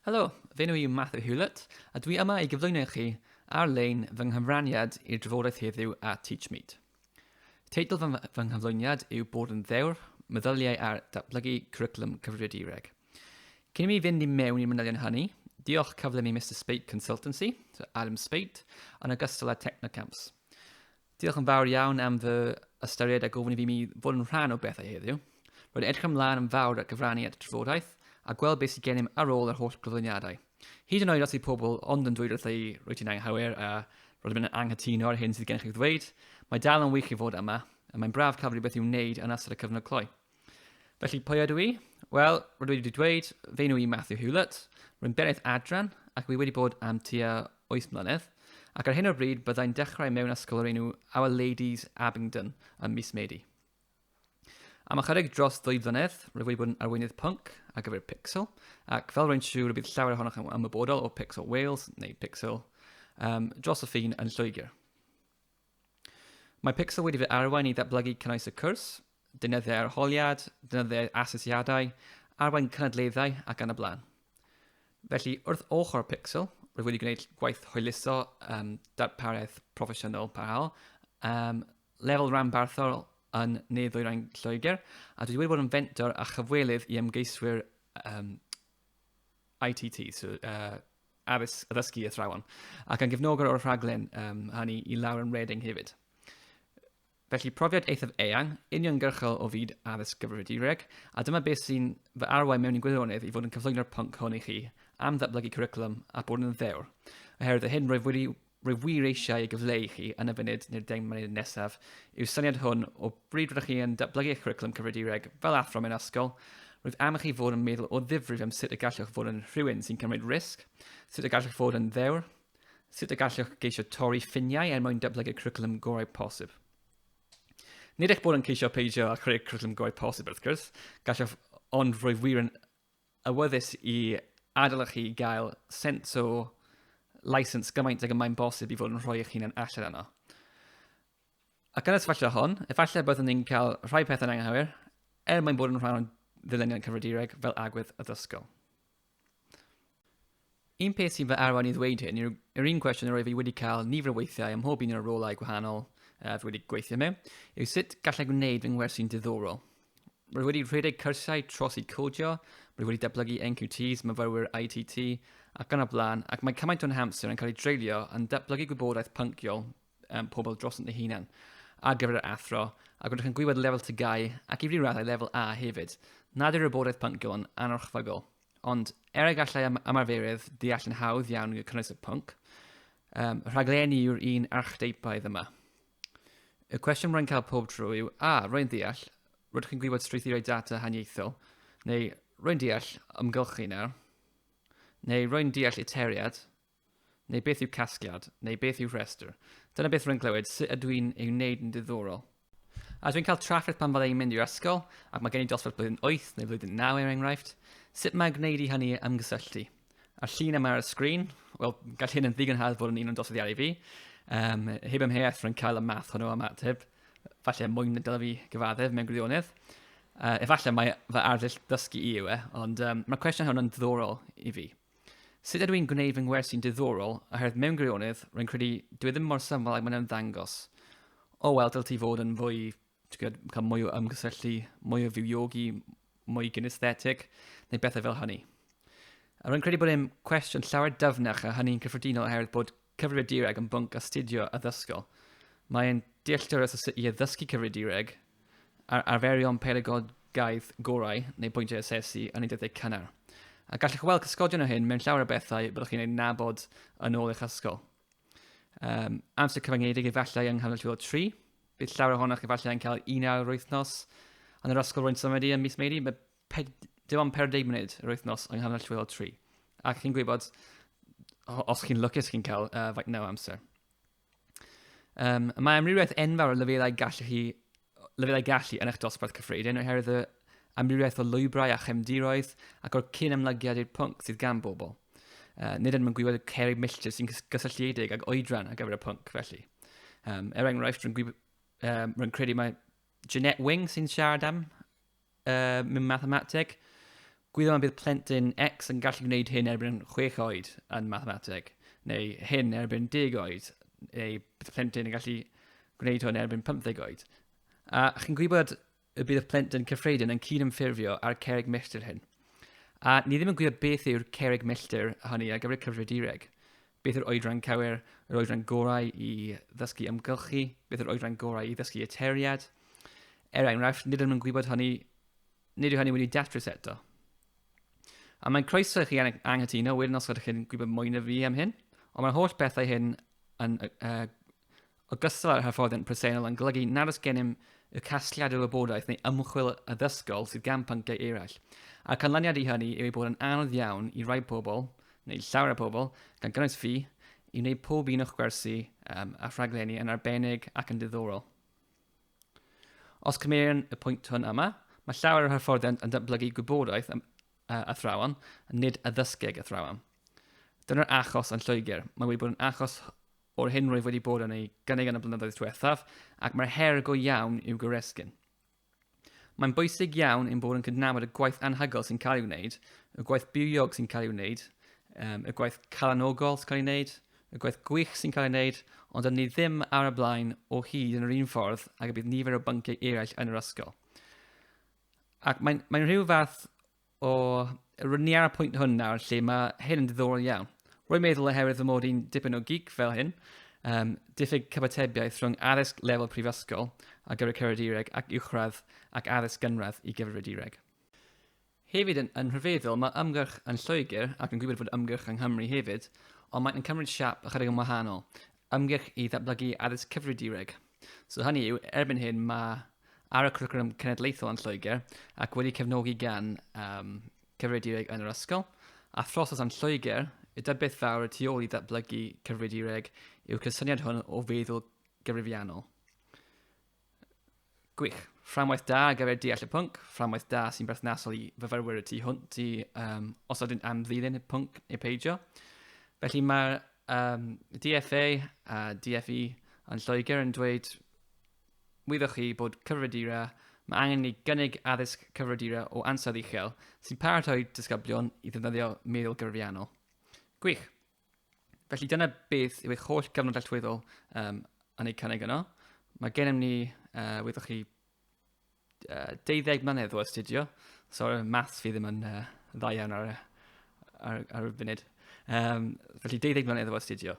Helo, fe nhw yw Matthew Hewlett, a dwi yma i gyflwyno i chi ar-lein fy nghyfraniad i'r drafodaeth heddiw a TeachMeet. Teitl fy, fy nghyflwyniad yw Bod yn Ddewr, Meddyliau ar Datblygu Cwricwlwm Cyfrifiadureg. Cyn i mi fynd i mewn i'r manylion hynny, diolch cyflym i Mr Spate Consultancy, so Adam Spate, yn ogystal â Technocamps. Diolch yn fawr iawn am fy ystyried a gofyn i fi mi fod yn rhan o bethau heddiw. Roedd edrych ymlaen yn fawr at gyfrannu at y trafodaeth a gweld beth sydd gennym ar ôl yr holl gyflwyniadau. Hyd yn oed os yw pobl ond yn dweud wrtha i rwyt ti'n anghywir a roedd yn anghytuno ar hyn sydd gennych i'w ddweud, mae dal yn wych i fod yma, a mae'n braf cael rhywbeth i'w wneud yn ystod y cyfnod cloi. Felly, pwy ydw i? Wel, rydw i wedi dweud, fe nhw i Matthew Hewlett, rwy'n benaeth adran ac rwy wedi bod am tua 8 mlynedd, ac ar hyn o'r bryd byddai'n dechrau mewn ysgol o'r enw Our Ladies Abingdon ym mis Medi. Am ychydig dros ddwy flynedd, rwyf wedi bod yn arweinydd pwnc ar gyfer Pixel, ac fel rwy'n siŵr y bydd llawer ohonoch yn ymwybodol o Pixel Wales, neu Pixel, um, dros y ffin yn Lloegr. Mae Pixel wedi fy arwain i ddatblygu cynnwys y cwrs, deunyddiau arholiad, deunyddiau asesiadau, arwain cynadleddau ac yn y blaen. Felly, wrth ochr Pixel, rwy wedi gwneud gwaith hwyluso um, darpariaeth proffesiynol parhaol, um, lefel ranbarthol yn Ne Ddwyrain Lloegr, a dwi wedi bod yn fentor a chyfwelydd i ymgeiswyr um, ITT, so, uh, addysg, addysgu athrawon, ac yn gefnogwr o'r rhaglen um, hynny i Lauren Reading hefyd. Felly profiad eithaf eang, uniongyrchol o fyd addysg gyfrifiadureg, a dyma beth sy'n fy arwain mewn i'n gwirionedd i fod yn cyflwyno'r pwnc hwn i chi am ddatblygu cwricwlwm a bod yn ddewr, oherwydd y hyn roedd wedi Rwyf wir eisiau ei gyfleu i chi yn y funud neu'r deng munud nesaf yw'r syniad hwn o bryd rydych chi yn datblygu eich cwricwlwm cyfridireg fel athro mewn ysgol, rwyf am i chi fod yn meddwl o ddifrif am sut y gallwch fod yn rhywun sy'n cymryd risg, sut y gallwch fod yn ddewr, sut y gallwch geisio torri ffiniau er mwyn datblygu'r cwricwlwm gorau posib. Nid eich bod yn ceisio peidio â chreu'r cwricwlwm gorau posib wrth gwrs, gallwch ond rwyf wir yn awyddus i adlewyrchu i gael sens o license gymaint ag y mae'n bosib i fod yn rhoi eich hunan allan yno. Ac yn y sefyllfa hon, efallai byddwn ni'n cael rhai pethau'n anghywir, er mwyn bod yn rhan o'n ddyluniad cyfridireg fel agwedd addysgol. Un peth sy'n fy arwain i ddweud hyn yw'r yr un cwestiwn yr oedd fi wedi cael nifer o weithiau ym mhob un o'r rolau gwahanol uh, fi wedi gweithio mewn, yw sut gallai gwneud fy ngwersi'n diddorol. Rwy wedi rhedeg cyrsiau tros i codio, rwy wedi datblygu NQTs, myfyrwyr ITT, ac gan y blaen, ac mae cymaint o'n hamser yn cael ei dreulio yn datblygu gwybodaeth pynciol um, pobl dros yn ei hunan ar gyfer yr athro, ac rydych yn gwybod lefel tygau ac i ryw raddau lefel A hefyd, nad yw'r wybodaeth pynciol yn anorchfygol. Ond, er y gallai ymarferydd deall yn hawdd iawn y cynnwys y pwnc, um, rhaglenni yw'r un archdeipaidd yma. Y cwestiwn rwy'n cael pob tro yw, a, rwy'n deall, rydych chi'n gwybod strwythurau data haniaethol, neu rwy'n deall ymgylchu nawr, neu rwy'n deall iteriad, Neu beth yw casgliad? Neu beth yw rhestr? Dyna beth rwy'n clywed, sut ydw i'n ei wneud yn ddiddorol? A dwi'n cael trafferth pan fydda i'n mynd i'r ysgol, ac mae gen i dosbarth blwyddyn 8 neu flwyddyn 9 er enghraifft, sut mae gwneud i hynny ymgysylltu? A'r llun yma ar y sgrin, wel, gall hyn yn ddigon hardd fod yn un o'n dosyddiadau i fi. Um, heb ymheuaeth rwy'n cael y math hwnnw am ateb, falle mwy na dylai fi gyfaddef mewn gwirionedd. Uh, efallai mae fy arddull ddysgu i yw e, ond um, mae'r cwestiwn hwn yn ddiddorol i fi. Sut ydw i'n gwneud fy ngwersi'n diddorol, oherwydd mewn gwirionedd, rwy'n credu dwi ddim mor syml ag mae'n ymddangos. O wel, dylai ti fod yn fwy, ti'n gwybod, cael mwy o ymgysylltu, mwy o fywiogi, mwy gynesthetig, neu bethau fel hynny. A rwy'n credu bod e'n cwestiwn llawer dyfnach a hynny'n cyffredinol oherwydd bod Cyfrifiadureg yn bwnc astudio addysgol. Mae e'n dealltwriaeth o sut i addysgu cyfrifiadureg a'r arferion pedagogaeth gorau neu bwyntiau asesu yn ei dyddiau cynnar. A gallwch weld cysgodion o hyn mewn llawer o bethau byddwch chi'n ei nabod yn ôl eich ysgol. Um, amser cyfyngedig efallai yng nghanol llwyddo tri. Bydd llawer ohonoch efallai yn cael un awr yr wythnos yn yr ysgol rwy'n symud i ym mis Medi. Mae Ped, dim ond 40 munud yr wythnos yng nghanol llwylo tri. Ac chi'n gwybod, os chi'n lwcus chi'n cael uh, faint naw amser. Um, mae amrywiaeth enfawr o lefelau gallu chi lefelau gallu yn eich dosbarth cyffredin oherwydd y amrywiaeth o lwybrau a chefndiroedd ac o'r cyn ymlygiad i'r pwnc sydd gan bobl. Uh, nid yn mynd gwybod y cerig milltir sy'n gysylltiedig ag oedran ar gyfer y pwnc, felly. Um, er enghraifft, rwy'n um, rwy'n credu mae Jeanette Wing sy'n siarad am uh, mewn mathemateg. Gwyddom y bydd plentyn X yn gallu gwneud hyn erbyn 6 oed yn mathemateg, neu hyn erbyn 10 oed, neu bydd plentyn yn gallu gwneud hwn erbyn 15 oed. A chi'n gwybod y bydd y plentyn cyffredin yn cyd-ymffurfio â'r cerig milltir hyn. A ni ddim yn gwybod beth yw'r cerig milltir hynny ar gyfer y cyfrifiadureg. Beth yw'r oedran cywir? Yr oedran gorau i ddysgu ymgylchu? Beth yw'r oedran gorau i ddysgu y teriad? Er enghraifft, nid ydym yn gwybod hynny, nid yw hynny wedi datrys eto. A mae'n croeso i chi anghytuno wedyn os ydych chi'n gwybod mwy na fi am hyn, ond mae'r holl bethau hyn yn, uh, Ogystal â'r hyfforddiant presennol yn golygu nad oes gennym y casgliad o wybodaeth neu ymchwil addysgol sydd gan pynciau eraill, a'r canlyniad i hynny yw ei bod yn anodd iawn i rai pobl, neu llawer o pobl, gan gynnwys fi, i wneud pob un o'ch gwersi um, a rhaglenni yn arbennig ac yn diddorol. Os cymerion y pwynt hwn yma, mae llawer o'r hyfforddiant yn datblygu gwybodaeth am uh, athrawon, nid addysgeg athrawon. Dyna'r achos yn Lloegr. Mae wedi bod yn achos o'r hyn roedd wedi bod yn ei gynnig yn y blynyddoedd diwethaf, ac mae'r her go iawn i'w goresgyn. Mae'n bwysig iawn ein bod yn cydnabod y gwaith anhygol sy'n cael ei wneud, y gwaith bywiog sy'n cael ei wneud, um, y gwaith calanogol sy'n cael ei wneud, y gwaith gwych sy'n cael ei wneud, ond yn ni ddim ar y blaen o hyd yn yr un ffordd ag y bydd nifer o bynciau eraill yn yr ysgol. Ac mae'n mae rhyw fath O, rydyn ni ar y pwynt hwn nawr lle mae hyn yn diddorol iawn. Rwy'n meddwl oherwydd fy mod i'n dipyn o gig fel hyn, um, diffyg cyfatebiaeth rhwng addysg lefel prifysgol a gyfer cyfrifiadureg ac uwchradd ac addysg gynradd i gyfrifiadureg. Hefyd yn, yn rhyfeddol, mae ymgyrch yn Lloegr ac yn gwybod fod ymgyrch yng Nghymru hefyd, ond mae'n cymryd siap ychydig yn wahanol. ymgyrch i ddatblygu addysg cyfrifiadureg. So hynny yw, erbyn hyn mae ar y cwricwlwm cenedlaethol yn Lloegr ac wedi cefnogi gan um, cyfrifiadureg yn yr ysgol, a throsod yn Lloegr, y dybiaeth fawr y tu ôl i ddatblygu cyfrifiadureg yw'r cysyniad hwn o feddwl gyfrifiannol. Gwych. Fframwaith da ar gyfer deall y pwnc, fframwaith da sy'n berthnasol i fyfyrwyr y tu hwnt i um, os ydyn am ddilyn y pwnc neu peidio. Felly mae'r um, DFA a DFE yn Lloegr yn dweud wyddoch chi bod cyfredura, mae angen ni gynnig addysg cyfredura o ansawdd uchel sy'n paratoi disgyblion i ddefnyddio meddwl gyfrifiannol. Gwych. Felly dyna beth yw eich holl gyfnod alltwyddol um, yn ei cynnig yno. Mae gennym ni, uh, wyddoch chi, uh, deuddeg mlynedd o astudio. So, maths fi ddim yn uh, dda iawn ar, ar, ar y funud. Um, felly deuddeg mlynedd o astudio.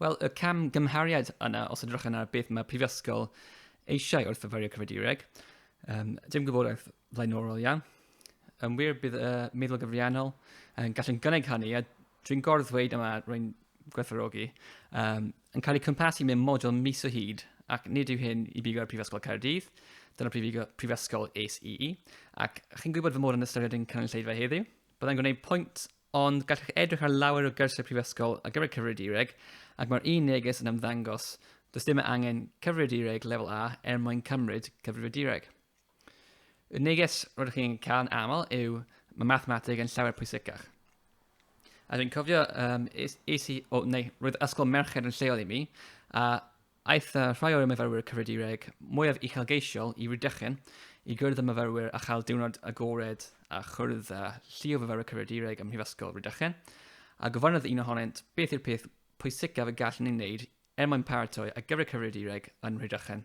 Wel, y cam gymhariad yna, os ydych yna beth mae prifysgol eisiau wrth fyfyrio cyfridiwreg, um, dim gwybodaeth flaenorol iawn. Yn wir, bydd y uh, meddwl gyfriannol yn gallu'n gynnig hynny, a dwi'n gordd ddweud yma, rwy'n gwerthorogi, um, yn cael ei cympasu mewn model mis o hyd, ac nid yw hyn i bigo ar Prifysgol Caerdydd, dyna prifysgol ACE, ac chi'n gwybod fy mod yn ystyried yn cynulleidfa heddiw. Byddai'n gwneud pwynt, ond gallwch edrych ar lawer o gyrsiau prifysgol ar gyfer cyfrifiadureg, ac mae'r un neges yn ymddangos, does dim angen cyfrifiadureg lefel A er mwyn cymryd cyfrifiadureg. Y neges rydych chi'n cael yn aml yw mae mathemateg yn llawer pwysicach. A dwi'n cofio, um, es, es i, o, neu roedd ysgol merched yn lleol i mi, a aeth uh, rhai o'r myfyrwyr cyfridireg mwyaf uchelgeisiol i Rhydychen i gwrdd y myfyrwyr a chael diwrnod agored a chwrdd â llu o fyfyrwyr cyfridireg ym Mhrifysgol Rhydychen, a gofynodd un ohonynt beth yw'r peth pwysicaf y gallwn ni wneud Er mwyn paratoi ar gyfer y cyfrifiadureg yn Rhydychen,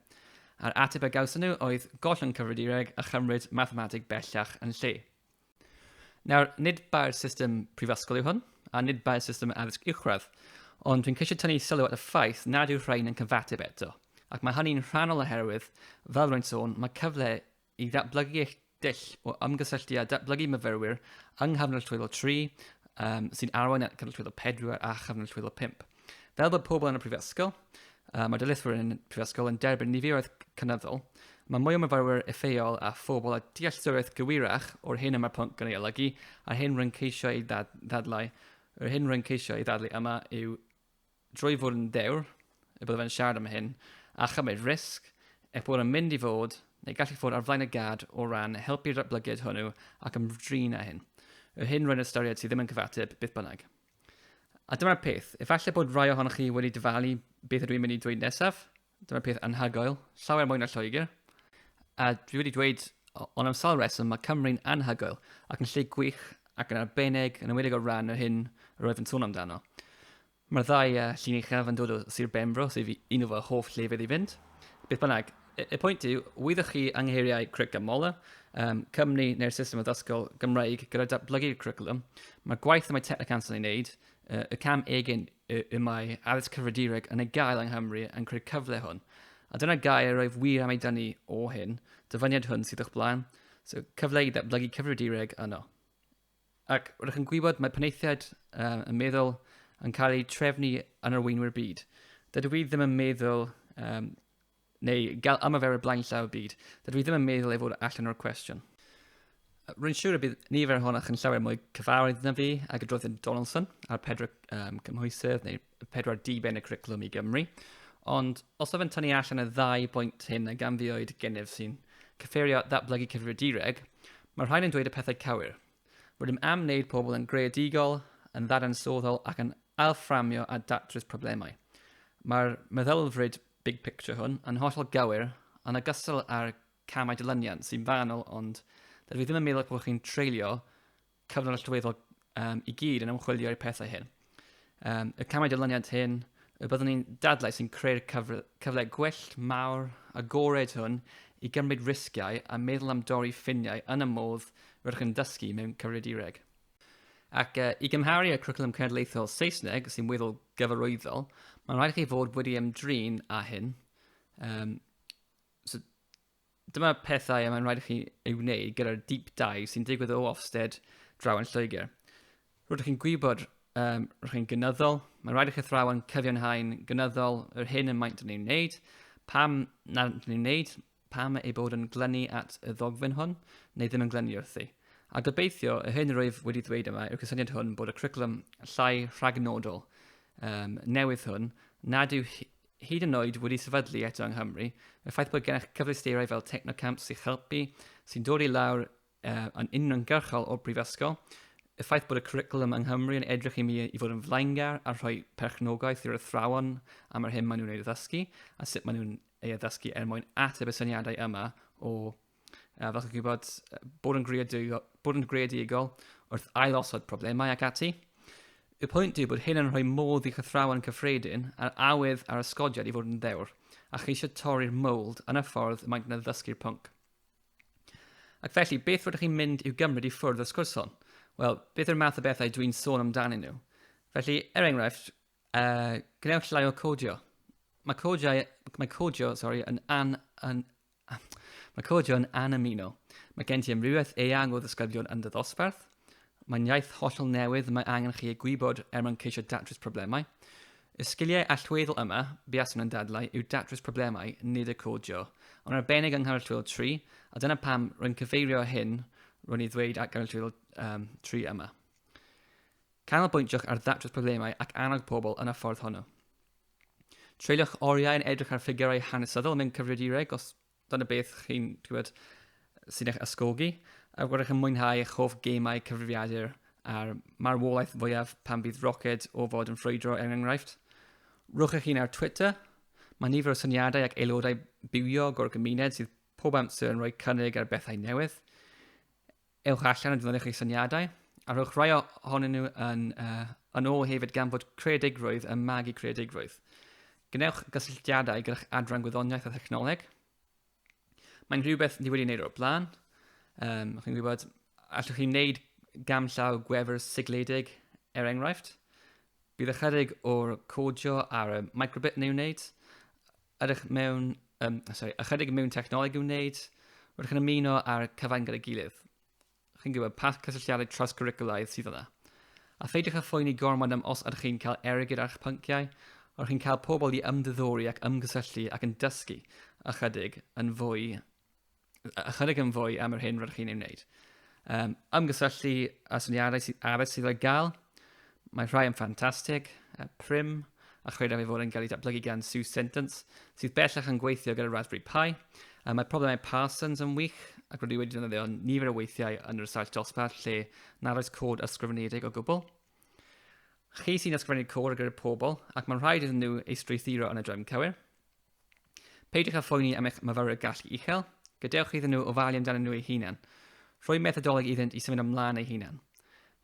a'r ateb a gawson nhw oedd gollwng cyfrifiadureg a chymryd mathemateg bellach yn lle. Nawr, nid bai'r system prifysgol yw hwn, a nid bai'r system addysg uwchradd, ond dwi'n ceisio tynnu sylw at y ffaith nad yw'r rhain yn cyfateb eto, ac mae hynny'n rhannol oherwydd, fel rwy'n sôn, mae cyfle i ddatblygu eich dull o ymgysylltu a datblygu myfyrwyr yng nghyfnod llwyddo 3, um, sy'n arwain at cyfnod llwyddo 4 a chyfnod llwyddo 5. Fel bod pobl yn y prifysgol, uh, mae dylethwyr yn y prifysgol yn derbyn niferoedd cynyddol, mae mwy o myfyrwyr effeol a phobl a dealltwriaeth gywirach o'r hyn y mae'r pwnc yn ei olygu a'r hyn rwy'n ceisio ei ddadlau, yr hyn rwy'n ceisio ei ddadlu yma yw drwy fod yn ddewr y byddaf yn siarad am hyn, a chymryd risg, eich bod yn mynd i fod, neu gallu fod ar flaen y gad o ran helpu'r datblygiad hwnnw ac ymdrin â hyn. Y hyn roedd yn ystyried sydd ddim yn cyfateb, beth bynnag. A dyma'r peth, efallai bod rhai ohonoch chi wedi dyfalu beth ydw i'n mynd i ddweud nesaf, Dyma peth anhygoel, llawer mwy na Lloegr. A dwi wedi dweud, ond am sawl reswm, mae Cymru'n anhygoel ac yn lle gwych ac yn arbennig yn ymwedig o ran yr hyn yr oedd yn sôn amdano. Mae'r ddau uh, llun uchaf yn dod o Sir Benfro, sef un o fy hoff llefydd i fynd. Beth bynnag, y, y pwynt yw, wyddoch chi angheiriau Cric a Mola, um, Cymru neu'r system addysgol Gymraeg gyda datblygu'r cwricwlwm, mae'r gwaith y mae Technic Anson ei wneud Y cam egin y mae addysg cyfridireg yn ei gael yng Nghymru yn creu cyfle hwn. A dyna gair roedd wir am ei dynnu o hyn, dyfyniad hwn sydd o'ch blaen, so cyfle i ddatblygu cyfridireg yno. Ac rydych chi'n gwybod mae penaethiaid um, yn meddwl yn cael eu trefnu yn arweinwyr byd. Dydw i ddim yn meddwl um, Neu gael ymarferwyr blaenllaw y byd. Dydw i ddim yn meddwl ei fod allan o'r cwestiwn. Rwy'n siŵr y bydd nifer ohonoch yn llawer mwy cyfarwydd na fi ag y droedd Donaldson a'r pedwar um, cymhwysedd neu pedwar diben y cwriclwm i Gymru. Ond os oeddwn tynnu allan y ddau bwynt hyn a ganfioed gennyf sy'n cyffurio ddatblygu cyfrifiadureg, mae rhain yn dweud y pethau cywir. Rydym am wneud pobl yn greadigol, yn ddadansoddol ac yn ailfframio a datrys problemau. Mae'r meddylfryd big picture hwn yn hollol gywir, yn ogystal â'r camau dilyniant sy'n fanwl, ond dydw i ddim yn meddwl bod chi'n treulio cyfnod allweddol um, i gyd yn ymchwilio i'r pethau hyn. Um, y camau dilyniant hyn, y byddwn ni'n dadlau sy'n creu'r cyfle, cyfle gwell, mawr, agored hwn i gymryd risgiau a meddwl am dorri ffiniau yn y modd rydych yn dysgu mewn cyfrifiadureg. Ac uh, i gymharu â Cwricwlwm Cenedlaethol Saesneg, sy'n weddol gyfarwyddol, mae'n rhaid i chi fod wedi ymdrin â hyn. Um, so, dyma pethau y mae'n rhaid i chi ei wneud gyda'r deep dive sy'n digwydd o Ofsted draw yn Lloegr. Rwy'ch chi'n gwybod, um, rwy'ch chi'n gynyddol, mae'n rhaid i chi thrawan cyfiawnhau'n gynyddol yr hyn y maent yn ei wneud, pam nad yn ei wneud, pam ei bod yn glynu at y ddogfen hwn, neu ddim yn glynu wrthi. A gobeithio, y hyn rwyf wedi dweud yma yw'r cysyniad hwn bod y cwricwlwm llai rhagnodol um, newydd hwn nad yw hyd yn oed wedi sefydlu eto yng Nghymru, y ffaith bod gennych cyfleusterau fel Technocamp sy'n helpu, sy'n dod i lawr uh, yn uniongyrchol o'r brifysgol, y ffaith bod y curriculum yng Nghymru yn edrych i mi i fod yn flaengar a rhoi perchnogaeth i'r athrawon am yr hyn maen nhw'n ei ddysgu a sut maen nhw'n ei addysgu er mwyn ateb y syniadau yma o, uh, fel chi'n gwybod, bod yn, greadigol, bod yn greadigol wrth ailosod problemau ac ati. Y pwynt yw bod hyn yn rhoi modd i chythrawen cyffredin a'r awydd a'r ysgodiad i fod yn ddewr, a cheisio torri'r mold yn y ffordd y mae'n gwneud ddysgu'r pwnc. Ac felly, beth rydych chi'n mynd i'w gymryd i ffwrdd y sgwrs hon? Wel, beth yw'r math o bethau dwi'n sôn amdanyn nhw? Felly, er enghraifft, Uh, gwnewch llai o codio. Mae codiau, mae codio, sorry, yn an, an, mae codio yn anamino. Mae gen ti amrywiaeth eang o ddysgyblion yn dy ddosbarth. Mae'n iaith hollol newydd mae angen chi ei gwybod er mwyn ceisio datrys problemau. Y sgiliau allweddol yma, buaswn yn dadlau, yw datrys problemau, nid y codio. Ond arbennig yng nghanol llwyddol 3, a dyna pam rwy'n cyfeirio hyn rwy'n ei ddweud at ganol llwyddol um, 3 yma. Canolbwyntiwch ar ddatrys problemau ac annog pobl yn y ffordd honno. Treuliwch oriau yn edrych ar ffigurau hanesyddol mewn cyfrifiadureg os dyna beth chi'n gwybod sy'n eich ysgogi, a rydych yn mwynhau eich hoff gemau cyfrifiadur a'r marwolaeth fwyaf pan fydd roced o fod yn ffrwydro er enghraifft. Rwch eich hun ar Twitter. Mae nifer o syniadau ac aelodau bywiog o'r gymuned sydd pob amser yn rhoi cynnig ar bethau newydd. Ewch allan a defnyddiwch eich syniadau, a rhowch rhai ohonyn nhw yn, uh, yn ôl hefyd gan fod creadigrwydd yn magu creadigrwydd. Gwnewch gysylltiadau gyda'ch adran gwyddoniaeth a thechnoleg. Mae'n rhywbeth ni wedi wneud o'r blaen. Um, chi'n gwybod, allwch chi wneud gam llaw gwefr sigledig, er enghraifft. Bydd ychydig o'r codio ar y microbit neu wneud, Ydych mewn, um, sorry, ychydig mewn technoleg i'w wneud, rydych yn ymuno â'r cyfain gyda'i gilydd. Chi'n gwybod pa cysylltiadau trawsgwricwlaidd sydd yna. A pheidiwch â phoeni gormod am os ydych chi'n cael ergyd a'ch pynciau, ond chi'n cael pobl i ymddiddori ac ymgysylltu ac yn dysgu ychydig yn fwy ychydig yn fwy am yr hyn rydych chi'n ei wneud. Um, ymgysylltu a syniadau sydd arall sydd o'i gael. Mae rhai yn ffantastig, uh, prim, a chredaf ei fod yn cael ei datblygu gan Sue Sentence, sydd bellach yn gweithio gyda Raspberry Pi. Uh, mae problemau Parsons yn wych, ac rydw i wedi defnyddio nifer o weithiau yn yr ysaill dosbarth lle nad oes cod ysgrifenedig o gwbl. Chi sy'n ysgrifennu'r cod ar gyfer pobl, ac mae'n rhaid iddyn nhw ei strwythuro yn y drefn cywir. Peidiwch â phoeni am eich myfyrwyr gallu uchel, gadewch iddyn nhw ofalu amdanyn nhw eu hunain. Rhoi methodoleg iddynt i symud ymlaen eu hunain.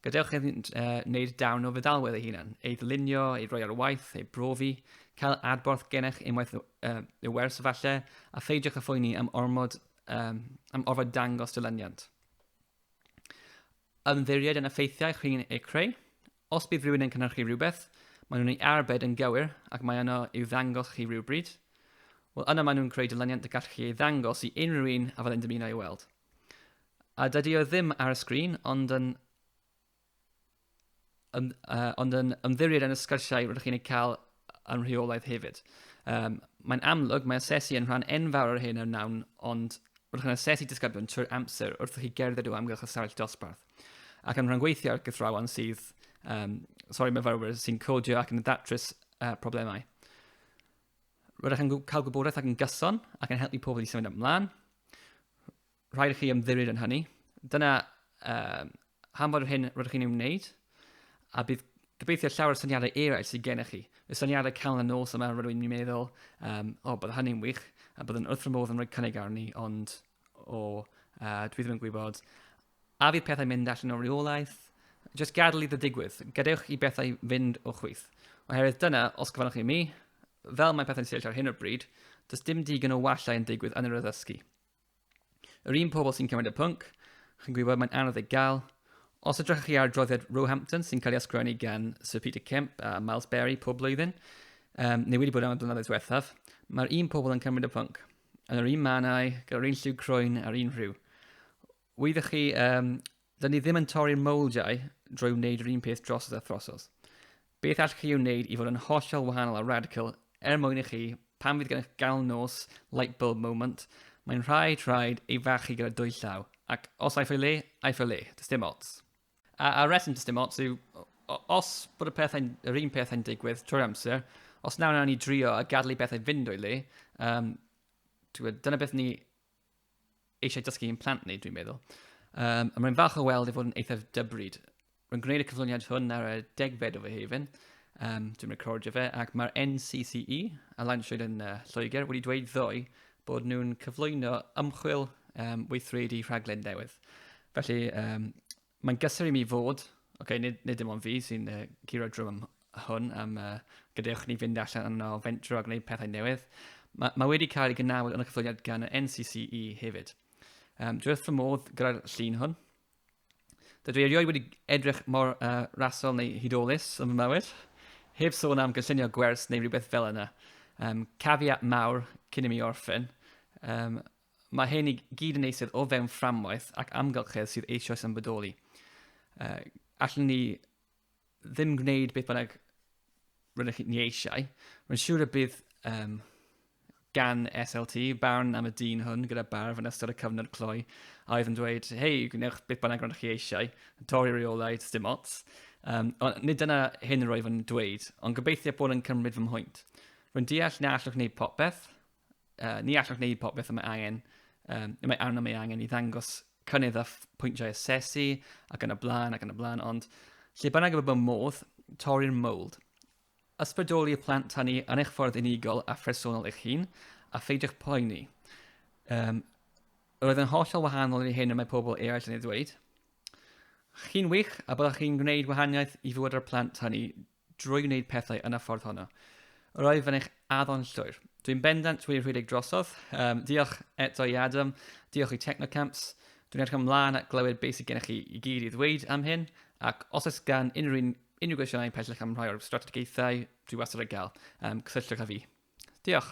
Gadewch iddynt uh, wneud darn o feddalwedd eu hunain, ei ddylunio, ei roi ar waith, ei brofi, cael adborth gennych unwaith uh, y wers falle, a pheidiwch â phoeni am ormod um, am orfod dangos dylyniant. Ymddiried yn effeithiau chi'n eu creu, Os bydd rhywun yn cynhyrchu rhywbeth, maen nhw'n ei arbed yn gywir ac mae yno i'w ddangos chi rhywbryd, wel yna maen nhw'n creu dilyniant y gallwch chi ei ddangos i unrhyw un a fyddai'n dymuno ei weld. A dydy o ddim ar y sgrin, ond yn, yn, uh, ond yn ymddiried yn y sgyrsiau rydych chi'n ei cael yn rheolaidd hefyd. Um, mae'n amlwg, mae asesu yn rhan enfawr o'r hyn a wnawn, ond rydych chi'n asesu disgyblion trwy'r amser wrth i chi gerdded o amgylch y sefyll dosbarth. ac yn rhyngweithio â'r gythrawn sydd, um, sori myfyrwyr, sy'n codio ac yn ddatrys uh, problemau. Rydych yn cael gwybodaeth ac yn gyson ac yn helpu pobl i symud ymlaen. Rhaid i chi ymddiried yn hynny. Dyna um, hanfod yr hyn rydych chi'n ei wneud, a bydd gobeithio llawer o syniadau eraill sydd gennych chi. Y syniadau cael yn nos yma rydw i'n meddwl, um, o, oh, bydd hynny'n wych, a bydd yn wrth fy modd yn rhoi cynnig arni, ond O, uh, dwi ddim yn gwybod. A fydd pethau mynd allan o reolaeth? Just gadael iddo digwydd. Gadewch i bethau fynd o chwyth. Oherwydd dyna, os gyfanwch i mi, fel mae pethau'n sefyll ar hyn o'r bryd, does dim digon o wallau yn digwydd yn yr addysgu. Yr un pobl sy'n cymryd y pwnc, chi'n gwybod mae'n anodd ei gael, Os ydych chi ar droddiad Roehampton sy'n cael ei ysgrifennu gan Sir Peter Kemp a Miles Berry pob blwyddyn, um, neu wedi bod am y blynyddoedd diwethaf, mae'r un pobl yn cymryd y pwnc. yn yr un mannau, gyda'r un lliw croen a'r un rhyw. Wyddoch chi, um, dyn ni ddim yn torri'r mowldiau drwy wneud yr un peth drosodd a throsodd. Beth allwch chi wneud i fod yn hollol wahanol a radical er mwyn i chi, pan fydd gennych gael nos, light bulb moment, mae'n rhaid rhaid ei fachu gyda dwy llaw, ac os aiff ei le, aiff ei le, does dim ots. A, a reswm does dim ots yw, os bod y pethau, yr un pethau'n digwydd trwy'r amser, os nawr nawr ni drio a gadlu i bethau fynd o'i le, um, gwybod, dyna beth ni eisiau dysgu i'n plant ni, dwi'n meddwl. Um, a mae'n falch o weld i fod yn eithaf dybryd. Rwy'n gwneud y cyflwyniad hwn ar y degfed o fy hefyn, um, dwi'n recordio fe, ac mae'r NCCE, a Lawn Llwyd yn uh, Lloegr, wedi dweud ddoe bod nhw'n cyflwyno ymchwil um, weithredu rhaglen newydd. Felly, um, mae'n gysur i mi fod, okay, nid, nid dim ond fi sy'n uh, curo drwm hwn am uh, gadewch ni fynd allan yno fentro a gwneud pethau newydd. Mae, mae wedi cael ei gynnawd yn y cyflwyniad gan y NCCE hefyd. Um, dwi wrth fy modd gyda'r llun hwn. Dydw i erioed wedi edrych mor uh, rasol neu hudolus yn fy mywyd. Heb sôn am gynllunio gwers neu rhywbeth fel yna. Um, cafiat mawr cyn i mi orffen. Um, mae hyn i gyd yn eistedd o fewn fframwaith ac amgylchedd sydd eisoes yn bodoli. Uh, allan ni ddim gwneud beth bynnag rydych chi'n eisiau, mae'n siŵr y bydd um, gan SLT barn am y dyn hwn gyda barf yn ystod y cyfnod cloi a oedd yn dweud, hei, gwnewch beth bynnag rydych chi eisiau, torri reolau, dim ots. Um, ond nid dyna hyn yr oedd yn dweud, ond gobeithio bod yn cymryd fy mhwynt. Rwy'n deall na allwch wneud popeth, uh, ni allwch wneud popeth y mae angen, um, y mae arno mae angen i ddangos cynnydd a pwyntiau asesu ac yn y blaen ac yn y blaen, ond lle bynnag y bod modd, torri'r mold. Ysbrydoli y plant hynny yn eich ffordd unigol a phresennol eich hun, a pheidiwch poeni. Um, roedd yn hollol wahanol i hyn y mae pobl eraill yn ei ddweud. Chi'n wych a byddwch chi'n gwneud wahaniaeth i fywyd ar plant hynny. drwy wneud pethau yn y ffordd honno. Roedd yn eich addo'n llwyr. Dwi'n bendant wedi rhedeg drosodd. Um, diolch eto i Adam, diolch i Technocamps. Dwi'n edrych ymlaen at glywed beth sydd gennych chi i gyd i ddweud am hyn, ac os oes gan unrhyw un unrhyw gwestiynau pellach am rhai o'r strategaethau, dwi wastad yn gael, um, cysylltwch â fi. Diolch.